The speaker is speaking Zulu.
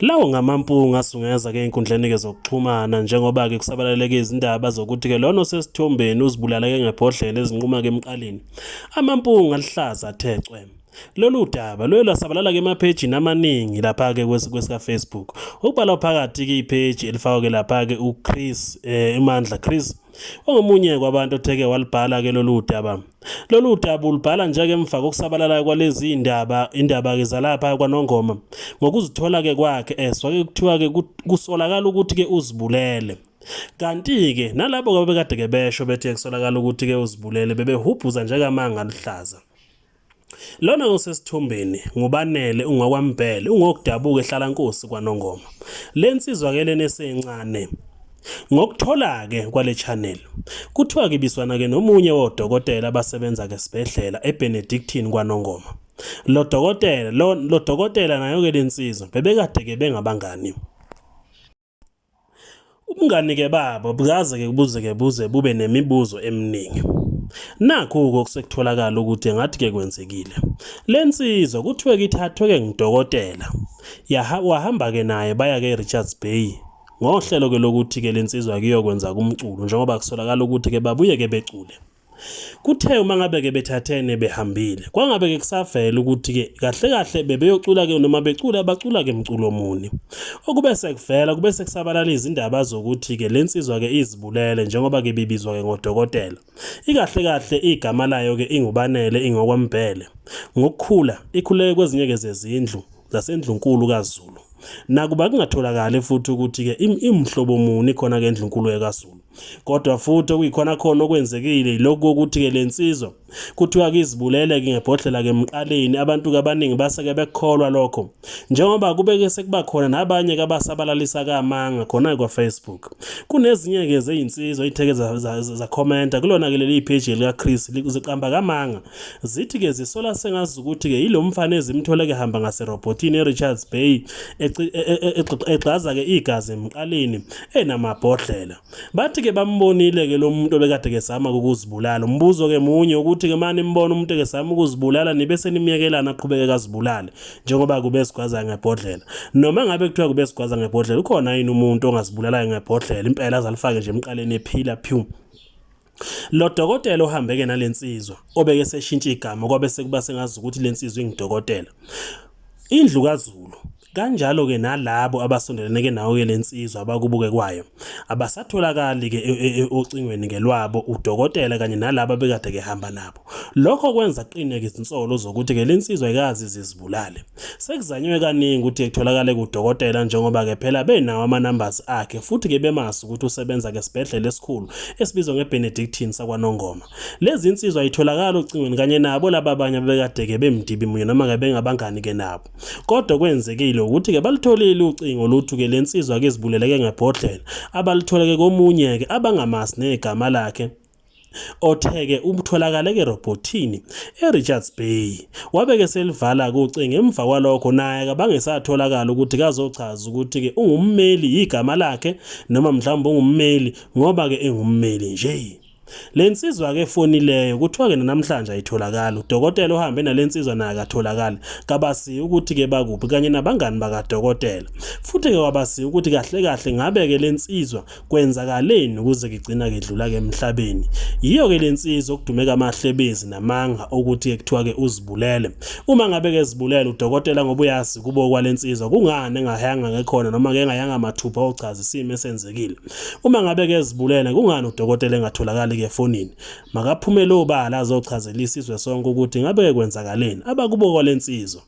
Lawo ngamampunga asungeza ke enkundleni ke zokuxhumana njengoba ke kusabalaleke izindaba zokuthi ke lona osesithombeni uzibulala ke ngebhodlela ezinquma ke emqaleni. Amampunga alihlaza athe cwem. Lolu daba luye lwasabalala ke emaphejini amaningi lapha ke kwesika Facebook. Okubalwa phakathi ke ipage elifakwa ke lapha ke uChris eh, Imandla Chris ongomunye kwabantu otheke walibhala ke lolu daba. Lolu daba ulubhala nje-ke emva kokusabalala kwalezi indaba indaba-ke zalapha kwanongoma ngokuzithola-ke kwakhe eswa-ke kuthiwa-ke kusolakala ukuthi-ke uzibulele kanti-ke nalabo babekade-ke besho bethe kusolakala ukuthi-ke uzibulele bebehubhuza njengamanga aluhlaza Lona osesithombeni nguBanele ungokwaMbhele ungokudabuka eHlalankosi kwaNongoma. Le nsizwa-ke lena esencane Ngokuthola-ke kwale channel, kuthiwa kibiswana-ke nomunye wodokotela abasebenza-ke esibhedlela eBenedictine kwaNongoma. Lo dokotela, lo, lo dokotela nayo-ke le nsizwa bebekade-ke bengabangani. Ubungani-ke babo bukaze-ke buze-ke buze bube nemibuzo eminingi. Nakhu-ke okusekutholakala ukuthi ngathi-ke kwenzekile. Le nsizwa kuthiwe-ke ithathwe-ke ngudokotela, yaha, wahamba-ke naye baya-ke eRichards Bay Ngohlelo ke lokuthi ke lensizwa kuyokwenza kumculo njengoba kusolakala ukuthi ke babuye ke becule. Kuthe uma ngabe ke bethathene behambile kwangabe ke kusavela ukuthi ke kahle kahle bebeyocula ke noma becula bacula ke mculo muni. Okube sekuvela kube sekusabalala izindaba zokuthi ke lensizwa ke izibulele njengoba ke bibizwa ke ngodokotela. Ikahle kahle igama layo ke ingubanele ingokwambhele. Ngokukhula ikhuleke kwezinye ke zezindlu zasendlunkulu kaZulu. Nakuba kungatholakali futhi ukuthi-ke imhlobo muni khona-ke endlunkulu yakaZulu. Kodwa futhi okuyikhona khona okwenzekile yilokhu kokuthi-ke le nsizwa kuthiwa kizibulele-ke ngebhodlela-ke emqaleni abantu-ke abaningi base-ke bekukholwa lokho njengoba kube-ke sekuba khona nabanye-ke abasabalalisa kamanga khona-ke kwafacebook kunezinye-ke zeyinsizwa iy'theke zakhomenta kulona-ke leli pheji likachris ziqamba kamanga Zithi-ke zisola sengazi ukuthi-ke yilo mfana ezimthola kehamba ngaserobhotini eRichards Bay e, e, e, egxaza-ke igazi emqaleni enamabhodlela. Bathi-ke bambonile-ke lo muntu obekade kesama ukuzibulala. Umbuzo-ke munye ukuthi-ke uma nimbona umuntu ekesama ukuzibulala nibe senimyekelana aqhubeke kazibulale njengoba kube sigwaza ngebhodlela. Noma ngabe kuthiwa kube sigwaza ngebhodlela ukhona yini umuntu ongazibulalayo ngebhodlela impela azalifake nje emqaleni ephila phew. Lo dokotela ohambeke nale nsizwa obeke seshintsha igama kwabe sekuba sengazi ukuthi le nsizwa ingidokotela. Indlu kaZulu kanjalo ke nalabo abasondelene ke nawo ke lensizwa abakubuke kwayo abasatholakali ke e, e, e, ocingweni ngelwabo udokotela kanye nalabo bekade kehamba nabo lokho kwenza qine izinsolo zokuthi ke lensizwa ikazi zizibulale Sekuzanywe kaningi ukuthi etholakale kudokotela njengoba ke phela benawo ama-numbers akhe futhi ke bemazi ukuthi usebenza ke sibhedlela esikhulu esibizwa ngeBenedictine sakwaNongoma. Lezi insizwa ayitholakali ocingweni kanye nabo laba abanye abebekade ke bemdibi munye noma ke bengabangani ke nabo. Kodwa kwenzekile ukuthi ke balitholile ucingo luthu ke lensizwa ke izibuleleke ngebhodlela abalithole ke komunye ke abangamazi negama lakhe Otheke ubutholakale kerobhothini eRichards Bay wabeke selivala kucinga emva kwalokho naye kabangesatholakala ukuthi kazochaza ukuthi ke ungummeli yigama lakhe noma mhlawumbe ungummeli ngoba ke engummeli nje Le nsizwa ke efonileyo kuthiwa ke namhlanje ayitholakali udokotela ohambe nale nsizwa naye akatholakali kabasiyi ukuthi ke bakuphi kanye nabangani bakadokotela futhi ke wabasiyi ukuthi kahle kahle ngabe ke le nsizwa kwenzakaleni ukuze kigcina kedlula ke emhlabeni yiyo ke lensizwa okudumeka amahlebezi namanga okuthi ke kuthiwa ke uzibulele uma ngabe ke zibulele udokotela ngoba uyazi kubo kwalensizwa kungani engahayanga ngekhona noma ke engayanga mathupha ochaza isimo esenzekile uma ngabe ke zibulele kungani udokotela engatholakali ke fonini makaphumele obala azochazela isizwe sonke ukuthi ngabe ke kwenzakaleni abakubo kwalensizwa